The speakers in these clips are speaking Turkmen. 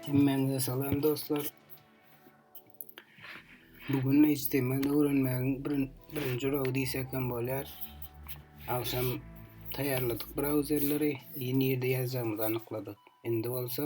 Hemmäňize salam dostlar. Bu gün HTML öwrenmegiň birinji uragy diýsek hem bolýar. Agşam taýýarladyk brauzerleri, ýene ýerde ýazjagymyzy anykladyk. Indi bolsa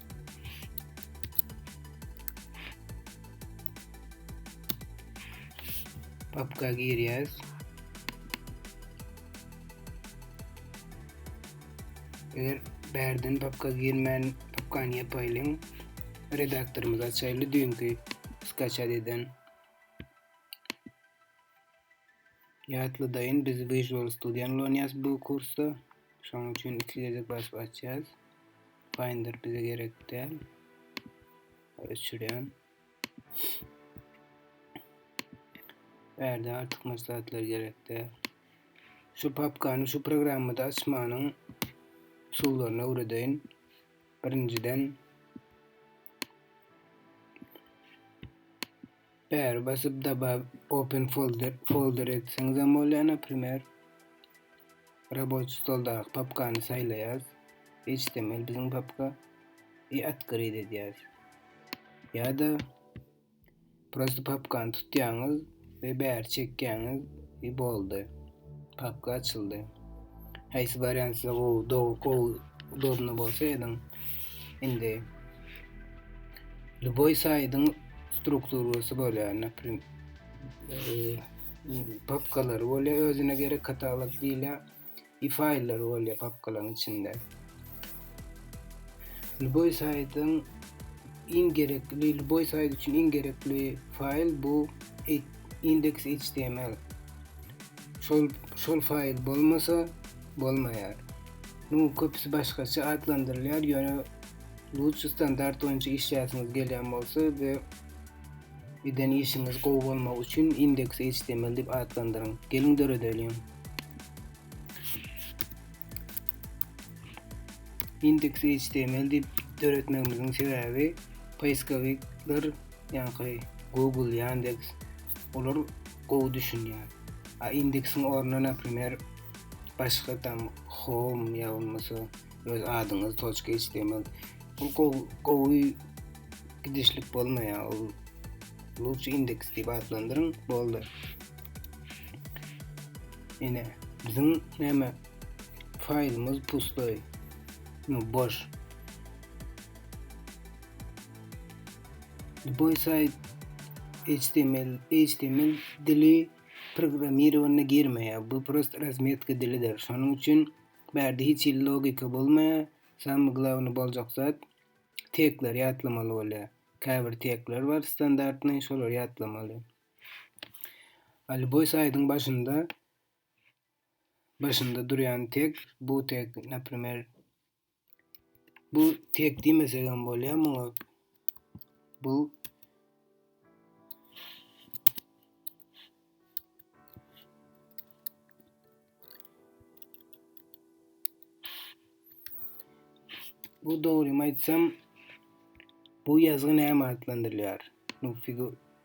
Papka girýäs. Eger bärden papka girmän papkany ýapaýlyň. Redaktorymyzy açaýly düýnki skaçat eden. Ýatladayyn biz visual studiany ulanýas bu kursda şonuň üçin iki gezek basyp açýas finder bize gerek däl öçürýän Bärde artyk maslahatlar gerek däl şu papkany şu programmada açmanyň usullaryny öwredeýin birinjiden Bäri basyp Dabab open folder folder etseňizem bolýar naprimer. Raboçi stoldaky papkany saýlaýas. HTML biziň papka i atkryt edýäs. Ýa-da prosta papkany tutýaňyz we bäri çekýäňiz i boldy. Papka açyldy. Haýsy barýan size gowy, dow, gowy, udobny bolsa ediň. Indi Luboý saýdyň strukturasy bolýar, naprim papkalar bolýar, özüne gerek katalog diýilýär, i faýllar bolýar papkalaryň içinde. Luboý saýdyň iň gerekli, Luboý saýdy üçin iň gerekli faýl bu indeks html şol şol faýl bolmasa bolmaýar. Muň köpüsi başgaça atlandyrylýar, ýöne lutçy standart boýunça işläsiňiz gelýän bolsa we eden işiňiz gowy bolmagy üçin indeks html diýip atlandyryň. Geliň döredeliň. Indeks html diýip döretmegimiziň sebäbi poiskovikler ýaňky Google, Yandex olar gowy düşünýär. A indeksiň ornuna naprimer başga tam home ýa bolmasa öz adyňyz toçka html ol gowy gidişlik bolmaýar. Ol lutşy indeks diýip atlandyryň boldy. Ine biziň näme faýlymyz pustoý. No boş. Boysaid HTML, HTML dili programmirowanyna girmeýär. Bu prost razmetka dilidir. Şonuň üçin bärde hiç hili logika bolmaýar. Samy glawny boljak zat tekler ýatlamaly bolýar. Käbir tekler bar standartny, şolary ýatlamaly. Ali Boysaidň başynda başynda durýan tek bu tek, naprimer, Bu tek diýmesek hem bolýar muňa. Bu Bu dogrymy aýtsam, bu ýazgy näme atlandyrylýar? Bu figur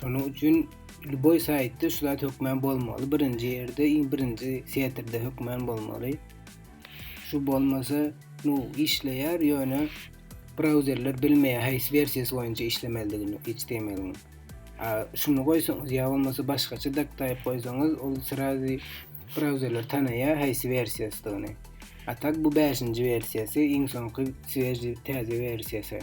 Şonuň üçin lýuboý saýtda şu zat hökmän bolmaly, birinji ýerde, iň birinji setirde hökmän bolmaly. Şu bolmasa, nu işleýär, ýöne brauzerler bilmeýär haýsy wersiýasy boýunça işlemelidigini HTML-iň. A şuny goýsaňyz ýa bolmasa başgaça daktaýyp goýsaňyz, ol srazy brauzerler tanaýar haýsy wersiýasydygyny. A tak bu 5-nji wersiýasy, iň soňky swejý täze wersiýasy.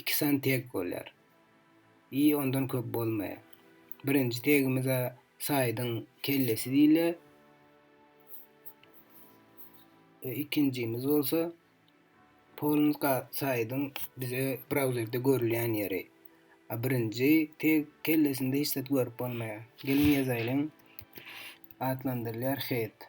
Iki sany teg bolýar. I ondan köp bolmaýar. Birinji tegimiz-ä Saýdyň kellesi diýilýär. We ikinjimiz bolsa Polumyz ga Saýdyň bize brauzerde görülýän ýeri. A birinji teg kellesinde hiç zat görüp bolmaýar. Geliň ýazaýlyň. Atlandyrylýar head.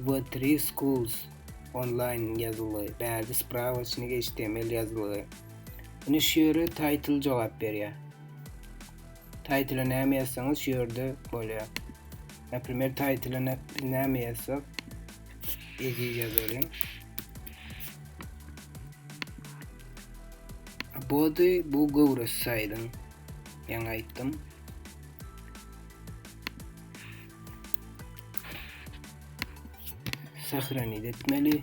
We Three Schools onlaýn ýazylgy, bärde Spravaçnik html ýazylgy. Indi şu ýere Title jogap berýär. Title-a näme ýazsaňyz şu ýerde bolýar. Naprimer Title-a biz näme ýazsak? Eziz ýazalyň. Body bu göwres saýdyň. Ýaňy aýtdym. Sahranit etmeli.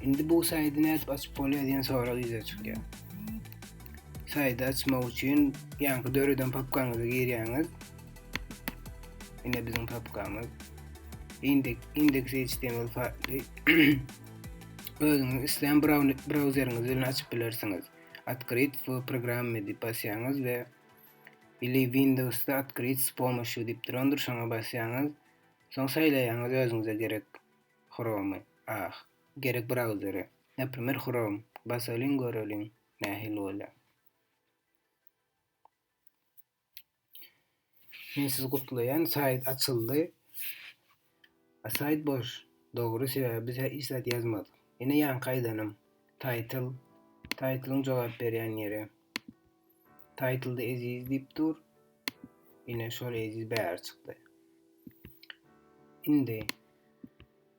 Şimdi bu saydı ne edip açıp bolýar diýen sorag ýüze çykýar. Saydy açmak üçin ýaňky döreden papkaňyza girýäňiz. Ine biziň papkamyz. Indeks indeks HTML faýly özüňiz islän brauzeriňiz bilen açyp bilersiňiz. Otkryt w programmi diýip basýaňyz we ili Windowsda Otkryt s pomoşýu diýip durandyr şoňa basýaňyz. Soň saýlaýaňyz özüňize gerek Chrome-y, ah, gerek brauzeri. Naprimer Chrome basalyň göreliň nähili bolýar. Men sizi gutlaýan saýt açyldy. A saýt boş. Dogry sebäbi biz hiç zat ýazmadyk. Ine ýanky aýdanym. Taýtl. Taýtlyň jogap berýän ýeri. Taýtlda eziz diýip dur. Ine şol eziz bäri çykdy. Indi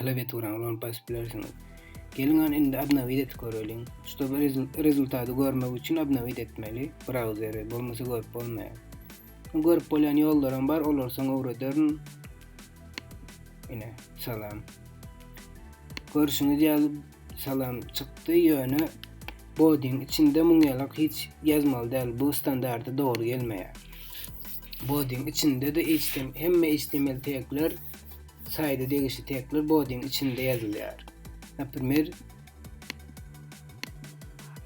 klawiaturany ulanyp basyp bilersiňiz. Geliň hany indi obnowit edip göreliň. Ştob rezultaty görmek üçin obnowit etmeli brauzeri, bolmasa görüp bolmaýar. Görüp bolýan ýollaram bar, olar soň öwrederin. Ine, salam. Görüşüňiz ýaly salam çykdy, ýöne bodiň içinde muň ýalak hiç ýazmaly däl, bu standarta dogry gelmeýär. Bodiň içinde-de HTML, hemme HTML tagler saýda degişli tekler bodiň içinde ýazylýar. Naprimer,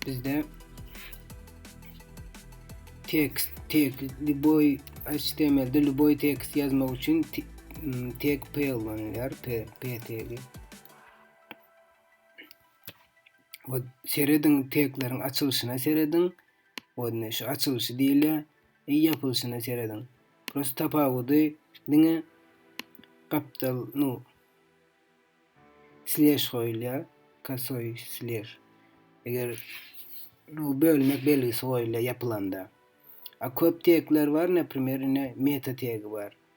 bizde tekst, tek, liboy, HTML-de liboy tekst ýazmak üçin tek P ulanýar, P, P tegi. Serediň tekleriň açylşyna serediň. Oýne şu açylşy diýilýär. Eý ýapylyşyna serediň. Prosta tapawudy diňe gapdal nu slež goýulýar, kosoý slež. Eger nu bölmek belgisi goýulýar ýapylanda. A köp tegler bar, naprimer ine meta tegi bar.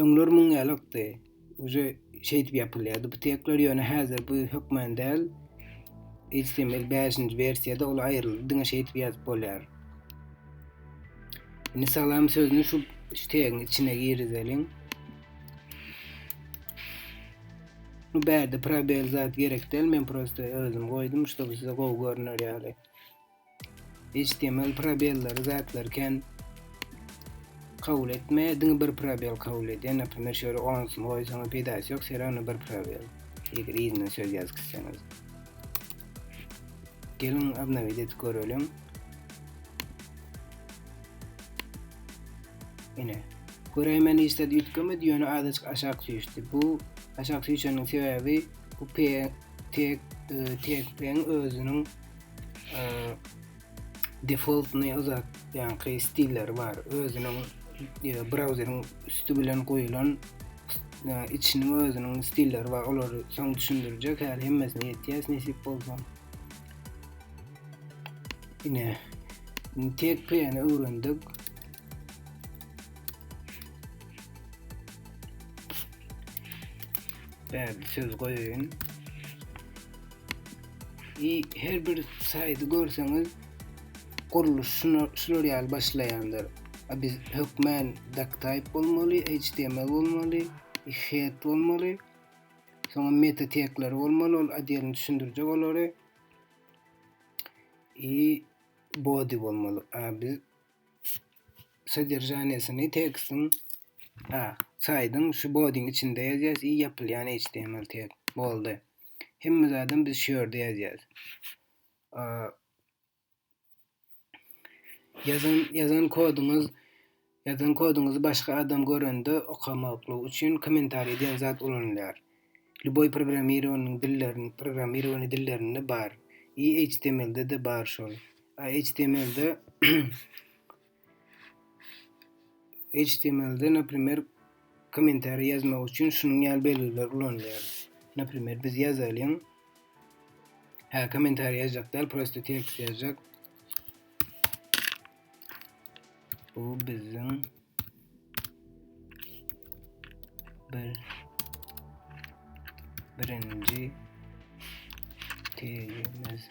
Öňler muň ýalykdy. Uje şeýdip ýapylýardy bu tekler, ýöne häzir bu hökman däl. HTML bäşinji wersiýada ol aýryldy, diňe şeýdip ýazyp bolýar. Indi salam sözüni şu tegiň içine girizeliň. Bu bärde probel zat gerek däl, men prosta özüm goýdum, şuda bu size gowy görüner ýaly. HTML probellary zatlar ken kabul etme diňe bir probel kabul edýär naprimýer şöyle onsuz goýsaňyz peýdasy ýok sebäbi onda bir probel eger yzyna söz ýazyp gitseňiz geliň obnowit edip göreliň ine göräýmän hiç zat üýtgemedi ýöne azajyk aşak süýşdi bu aşak süýşeniň sebäbi bu p tek e, tekpeň özüniň defaultny uzatýanky stilleri bar. Özüniň brauzeriň üsti bilen goýulan içiniň özüniň stilleri bar. Olary soň düşündirjek. Häli hemmesini ýetýäs nesip bolsa. Ine tek pn öwrendik. Bäbi söz goýaýyn. I her bir saýty görseňiz gurluş şuna şular ýaly başlaýandyr. A biz hökmän doctype bolmaly, html bolmaly, head bolmaly. Soňra meta tekleri bolmaly, ol adýelini düşündirjek olary. I body bolmaly. A biz sodержaniýasyny tekstiň A. Saýdyň şu bodiň içinde ýazýas i ýapylýan html tag. Boldy. Hemme zadam biz şu ýerde ýazýas. A. Ýazan ýazan kodyňyz ýazan kodyňyzy başga adam görende okamaklygy üçin kommentariý diýen zat ulanylýar. Lýuboý programmirowanyň dillerini programmirowany dillerinde bar. I html-de de bar şol. A html-de HTML-de, naprimer, kommentariý ýazmak üçin şunuň ýaly belgiler ulanylýar. Naprimer, biz ýazalyň. Hä, kommentariý ýazjak däl, prosta tekst ýazjak. Bu biziň bir birinji tegimiz.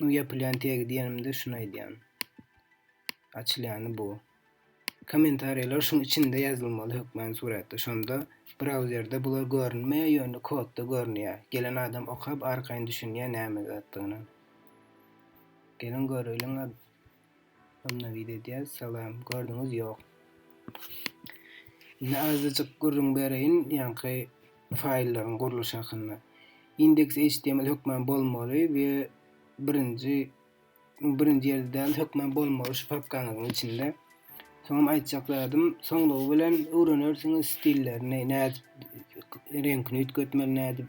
Bu yapylýan tegi diýenimde şunu aýdýan. Açylýany bu. Kommentariýalar şuň içinde ýazylmaly hökmän suratda. Şonda brauzerde bular görünmeýär, ýöne kodda görünýär. Gelen adam okap arkaýyn düşünýär näme zatdygyna. Geliň göreliň. Obnowiýt edýäs. Salam. Gördüňiz ýok. Indi azajyk gürrüň bereýin ýaňky faýllaryň gurluşy hakynda. Index HTML hökman bolmaly we birinji birinji ýerde däl, hökman bolmaly şu papkaňyzyň içinde. Soňam aýtjak zadym, soňlugy bilen öwrenersiňiz stillerini, nädip reňkini üýtgetmeli, nädip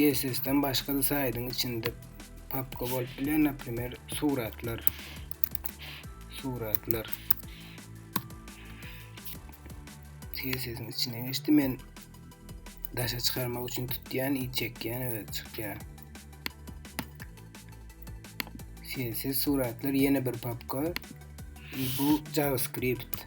CSS-den başga-da saýdyň içinde papka bolup bilen, naprimer, suratlar. Suratlar. CSS-iň içine geçdi. Men daşa çykarmak üçin tutýan, i çekýän we çykýar. CSS suratlar ýene bir papka. Bu JavaScript.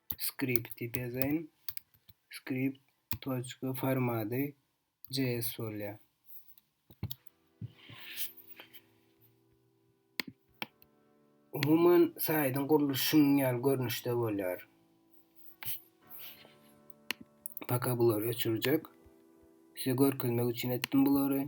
skripti bezeýin. Skript toçka formady JS bolýar. Umuman saýdyň gurluşy şunuň ýaly görnüşde bolýar. Paka bulary öçürjek. Size görkezmek üçin etdim bulary.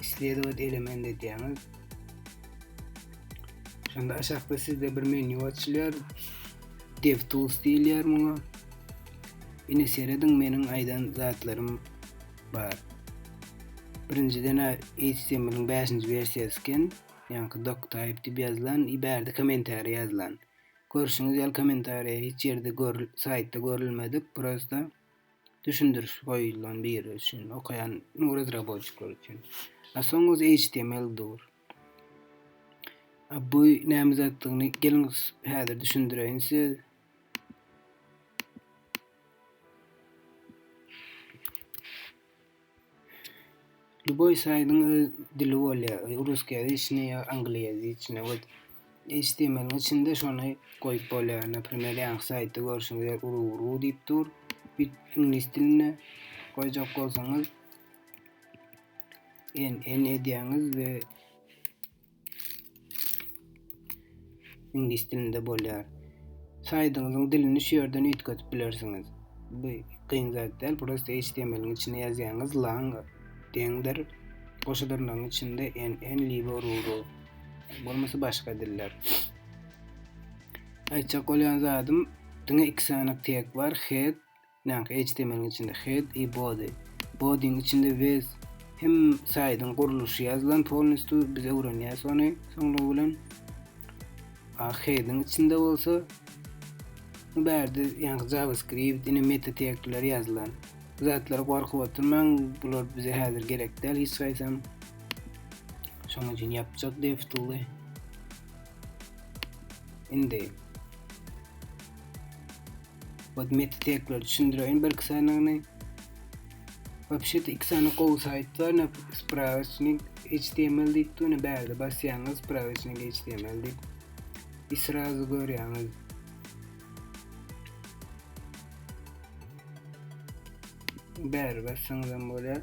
Isledowat element edýäňiz. Şonda aşakda sizde bir menýu açylýar. DevTools diýilýär muňa. Ine serediň meniň aýdan zatlarym bar. Birinjiden HTML-iň 5-nji wersiýasy eken. Ýaňky doctype diýip ýazylan, i bärde kommentariý ýazylan. Görşüňiz ýaly kommentariýa hiç ýerde görül, saýtda görülmedik, prosta düşündiriş goýulan biri üçin okaýan bu razraboçikler üçin. A soň öz HTML dur. A bu näme zatdygyny geliň häzir düşündireýin siz. Lýuboý saýtyň öz dili bolýar, russkiýaziçnyý ýa angliýaziçnyý we html-iň içinde şony goýup bolýar. Naprimer, ýaňky saýtda görşüňiz ýaly uru-uru diýip dur. Bit iňlis dilinde goýjak bolsaňyz, NN edýäňiz we Iňlis dilinde bolýar. Saýdyňyzyň dilini şu ýerden üýtgedip bilersiňiz. Bu kyn zat däl, prosta HTML-iň içine ýazýaňyz lang deňdir, goşa dyrnagyň içinde NN libo ruru. Bolmasa başga diller. Aýtjak bolýan zadym diňe iki sany tag bar, head Näme HTML-iň içinde head i body, body-iň içinde with hem saýdyň gurluşy ýazylan polnistü biz öwrenýäs ony soňlugy bilen. A head-iň içinde bolsa bu bärde ýaňky JavaScript ine meta tegler ýazylan. Bu zatlara gorkup oturmaň, bular bize häzir gerek däl hiç haýsam. Şonuň üçin ýapjak deftuly. Indi Ot meti tekrar düşündireýin bir iki sanyny. Wapşet iki sany gowy sayt bar. Ne spravasnik HTML diýip dur. Ne bärde basýaňyz spravasnik HTML diýip. I srazu görýäňiz. Bär bassaňyz hem bolýar.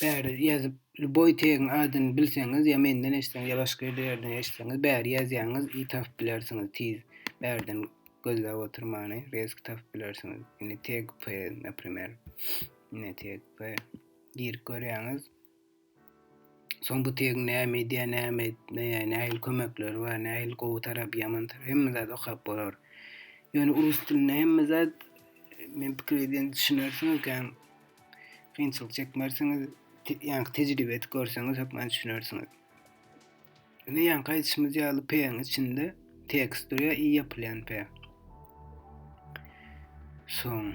Bäri ýazyp, lüboý tegiň adyny bilseňiz, ýa menden eşitseňiz, ýa başga ýerde ýerden eşitseňiz, bäri ýazýaňyz i tapyp bilersiňiz tiz. Bärden gözläp oturmany, rezki tapyp bilersiňiz. Indi teg p, naprimer. Ine teg p. Girip görýäňiz. Soň bu tegiň näme edýär, näme etmeýär, nähili kömekleri bar, nähili gowy tarapy, ýaman tarapy hemme zady okap bolar. Ýöne rus dilinde hemme zat men pikir edýän düşünersiňiz kän kynçylyk çekmersiňiz, ýaňky tejribe edip görseňiz hökman düşünersiňiz. Indi ýaňky aýdyşymyz ýaly P-iň içinde tekst durýar, i ýapylýan P. Soň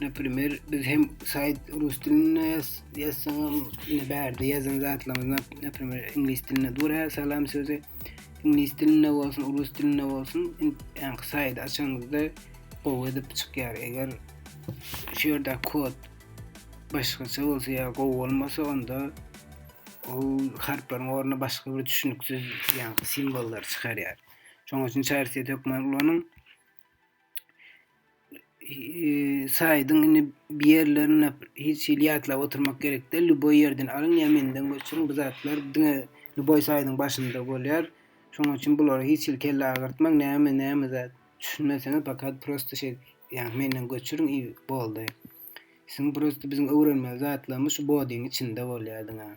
Naprimer, biz hem sayt rus dilinde yazsanam, yine bärde yazan zatlarımızda, naprimer, inglis dilinde dura salam sözü. İnglis dilinde olsun, rus dilinde olsun, yani sayt açanızda gowy edip çıkyar. Eger şu yerde kod başkaça olsa ya gowy olmasa onda o harflaryň ornuna başka bir düşünüksiz yani simvollar çıkaryar. Şonuň üçin çarsiýet hökmany ulanyň. saýdyň indi bir ýerlerini hiç hili ýatlap oturmak gerek däl. Lüboý ýerden alyň ýa menden göçüriň. Bu zatlar diňe lüboý saýdyň başynda bolýar. Şonuň üçin bulara hiç hili kelle agyrtmaň. Näme näme zat düşünmeseňiz fakat prosto şeý ýa menden göçüriň i boldy. Siziň prosto biziň öwrenmeli zatlarymyz şu bodiň içinde bolýar diňe.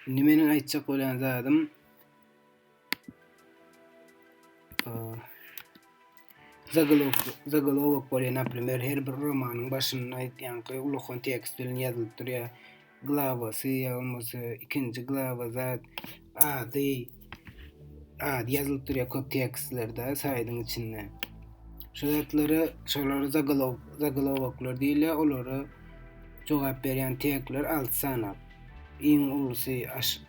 Indi meniň aýtjak bolýan zadym Zagalok, zagalowok bolýar, naprimer, her bir romanyň başynda aýdýanky ulakan tekst bilen ýazylyp durýar. Glawasy ýa bolmasa ikinji glawa zat ady ady ýazylyp durýar köp tekstlerde saýdyň içinde. Şu zatlara şolary zagalowoklar diýilýär, olara jogap berýän tekstler 6 sanap. Iň ulusy H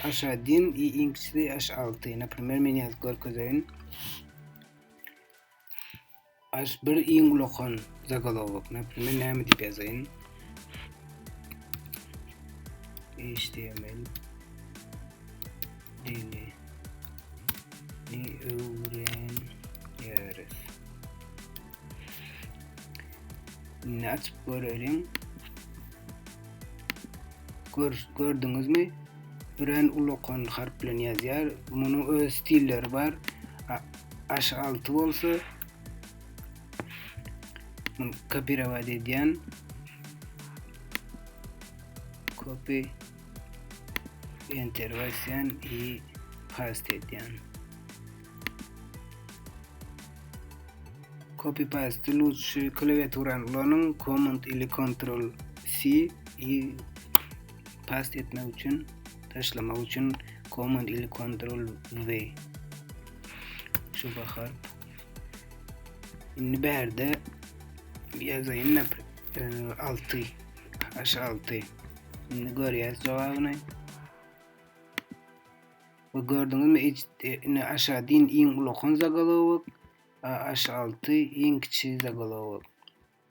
H-din i iň kiçisi H alty. Naprimer men ýazyp görkezeýin. H bir iň ulakan zagalowok. Naprimer näme diýip ýazaýyn? HTML dili ni öwren Indi açyp göreliň. Gör, gördüňizmi? Üren ulokon harp bilen ýazýar. Munuň öz stilleri bar. Aşy 6 bolsa muny kopirowat edýän. Copy enter basýan i paste edýän. Copy paste lutşy klawiaturany ulanyň command ili control C i paste etmek üçin taşlamak üçin command ili control V şu bahar indi bärde ýazaýyn napr 6 aşa 6 indi görýäs jogabyny we gördüňizmi ejdit ine aşa din iň ulakan zagalowok aşa altı iň kiçi zagalowok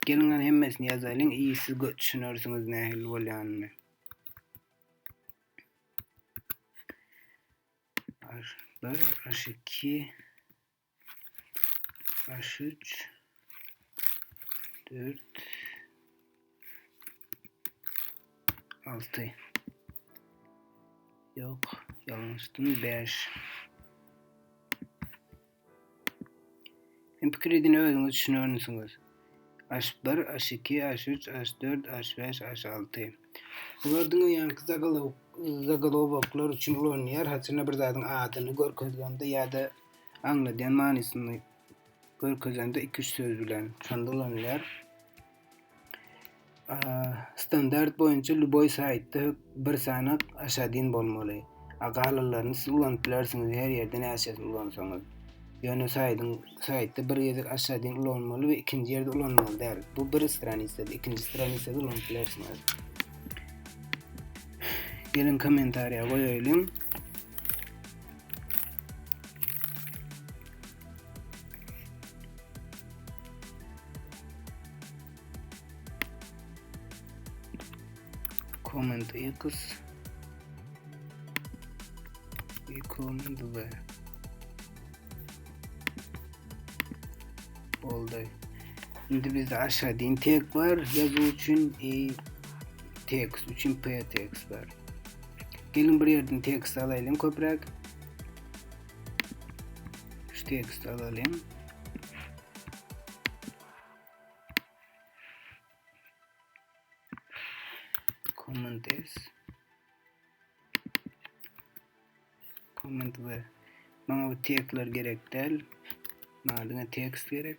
gelin an hemmesini yazalyň iyi siz düşünersiňiz nähili bolýanyny aş bir aş iki Baş üç. Dört. Altı. Yok. Yanlıştım. Beş. Hem pikir edin özüňüz düşünersiňiz. Aş bir, aş iki, aş üç, aş dört, aş bäş, aş alty. Bular diňe ýaňky zagalowoklar üçin ulanylýar, haçanda bir zadyň adyny görkezgende ýa-da aňladýan manysyny görkezende iki-üç söz bilen şonda ulanylýar. Standart boýunça lýuboý saýtda hök bir sanak aşadyn bolmaly. A galanlaryny siz ulanyp bilersiňiz her ýerde näçesini ulansaňyz. Ýöne saýdyň saýtda bir gezek aşadyn ulanmaly we ikinji ýerde ulanmaly däl. Bu bir stranitsada, ikinji stranitsada ulanyp bilersiňiz. Geliň kommentariýa goýaýlyň. Comment X i comment V oldu. Şimdi bizde aşağı din tek var. Yazı için i text için p text var. Gelin bir yerden text alayım köprak. Şu text alayım. Command S. Command V. Bana bu tekstler gerek değil. Bana dine tekst gerek.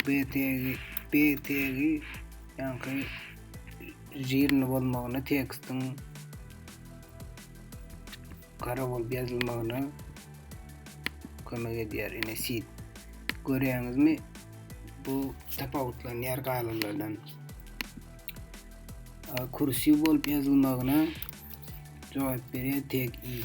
BTG BTG ýaňky žirni bolmagyny tekstiň gara bolup ýazylmagyna kömek edýär. Ine sit. Görýäňizmi? Bu tapawutlanýar galanlardan. Kursiw bolup ýazylmagyna jogap berýär tek i.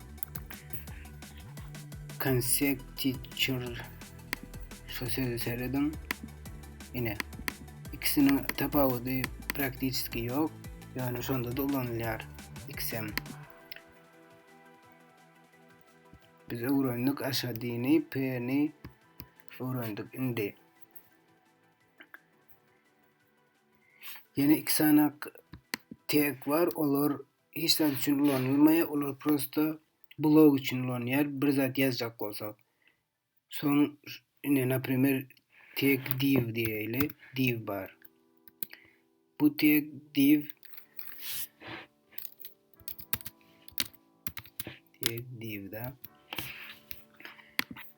Conjecture şu sözi serediň. Ine, ikisiniň tapawudy praktiski ýok, ýöne şonda da ulanylýar XM. Biz öwrendik aşadyny, p-ni öwrendik. Indi ýene iki sanak tek bar, olar hiç zat üçin ulanylmaýar olar prosta blog üçin ulanýar bir zat ýazjak bolsak soň ine naprimer tag div diýeli div bar bu tag div tag div da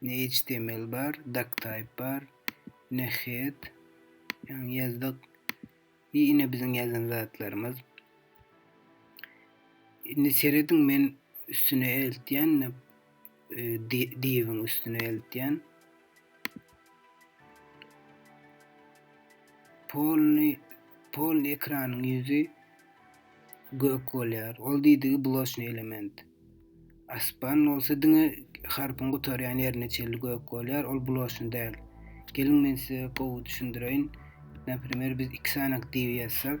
Ne html bar, doctype bar, ne head ýaňy ýazdyk. I ine biziň ýazan zatlarymyz. Indi serediň men üstüne eltýän ne diwiň üstüne eltýän. Polny polny ekranyň ýüzi Gök bolýar. Ol diýdigi bloçnyý element. Aspan bolsa diňe harpyň gutarýan ýerine çenli gök bolýar, ol bloçny däl. Geliň men size gowy düşündireýin. Naprimer biz iki sany aktiwi ýazsak.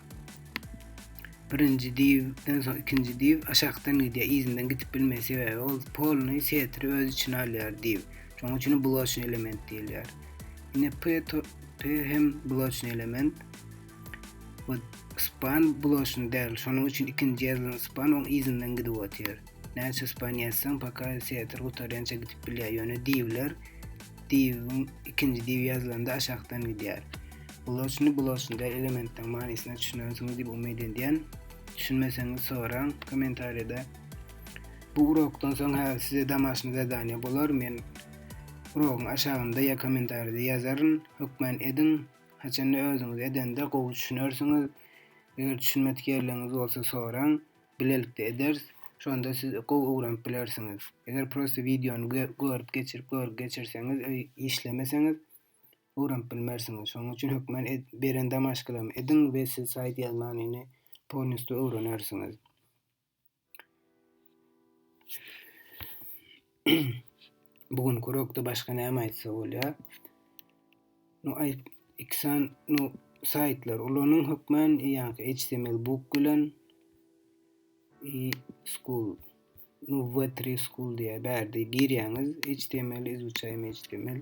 Birinji diwden soň ikinji diw aşakdan gidýär, yzyndan gidip bilmeýär, sebäbi ol polny setri öz içine alýar diw. Şonuň üçin bloçny element diýilýär. Ine P P hem bloçny element. Bu span bloçny däl, şonuň üçin ikinji ýazylan span oň yzyndan gidip otyr. Näçe suspan ýazsaň, paka teatr gutarýança gidip bilýär. Ýöne diwler, diwiň ikinji diwi ýazylanda aşakdan gidýär. Bloçny bloçnyda elementden manysyna düşünersiňiz diýip umyt edýän. Düşünmeseňiz soraň kommentariýada. Bu urokdan soň häzir size damaşny zadaniýa bolar. Men urogyň aşagynda ýa kommentariýada ýazaryn. Hökman ediň. Haçanda özüňiz edende gowy düşünersiňiz. Eger düşünmedik ýerleriňiz bolsa soraň. bilelikde ederis, şonda siz gowy öwrenip bilersiňiz. Eger prosta wideony görüp geçirip görgi geçirseňiz öý işlemeseňiz öwrenip bilmersiňiz. Şonuň üçin hökmen beren damaşkalamy ediň we siz saýt ýazmanyny polnistü öwrenersiňiz. Bu gün kurokda başga näme aýtsa bolýar. No aýt iksan no saýtlar ulanyň hökmän ýaňky HTML book bilen i school no V3 school diýä bärde girýäňiz HTML izuçaýmy HTML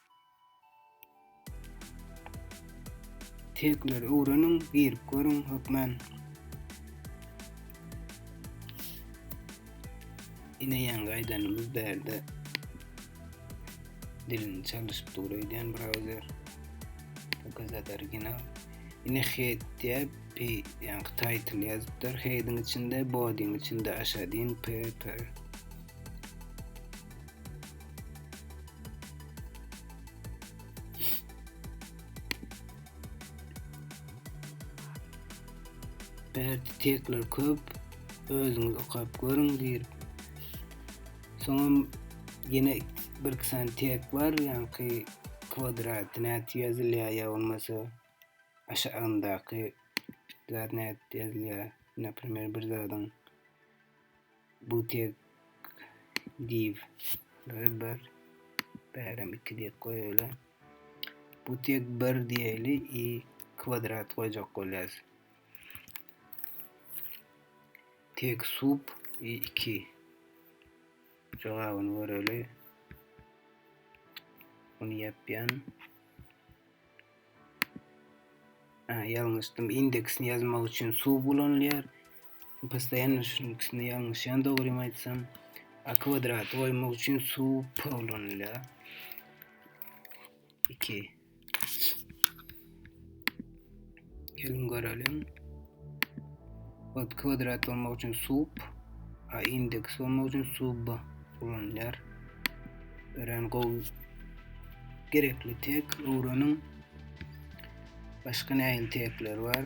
Tekleri öwreniň, girip görüň, hökmän. Ine ýaňy gaýdanymyz bärde dilini çalyşyp dur öýdýän brauzer. Pokazat original. Ine head diýip, p ýaňky title ýazypdyr. Headiň içinde, bodyň içinde aşadyň p p. Bärde tekler köp. Özüňiz okap görüň diýip. Soňam ýene bir iki sany tek bar, ýaňky kwadrat nädip ýazylýar ýa bolmasa aşagyndaky zat nädip ýazylýar, naprimer bir zadyň Bu tek div bir bir bärem iki diýip goýaýly. Bu tek bir diýeli i kwadrat goýjak bolýas. Tek sub i iki. Jogabyny göreli. Bunu yapyan. Ha, ýalňyşdym. Indeksini ýazmak üçin suw ulanylýar. Postoýanno şunuň ikisinde ýalňyşýan dogrymy aýtsam. A kwadraty goýmak üçin suw p ulanylýar. 2. Gelin göreliň. Ot kvadrat bolmak üçin sub a indeks bolmak üçin sub b ulanylýar. Örän gowy. Gerekli tek öwreniň. Başga nähili tekler bar?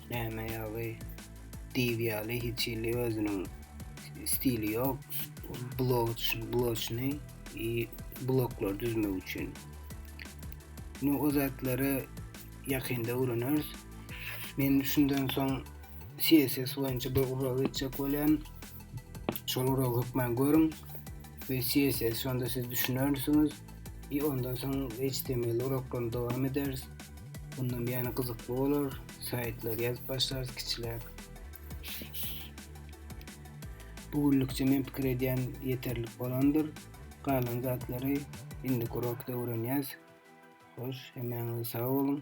Näme ýaly? Diýw ýaly hiç hili özüniň stili ýok. Blog üçin blogçyny i bloglar düzmek üçin. Nu o zatlary ýakynda öwreneris. Men şundan soň CSS boýunça bir ulag geçjek bolýan. Şol ulag hökman görüň. Ve CSS şonda siz düşünersiňiz. I ondan soň HTML uraklarny dowam ederis. Bundan ýene gyzykly bolar. Saýtlar ýazyp başlarys kiçiläk. Bu günlükçe men pikir edýän ýeterlik bolandyr. Galan zatlary indi urakda öwrenýäs. Hoş, hemmäňiz sag boluň.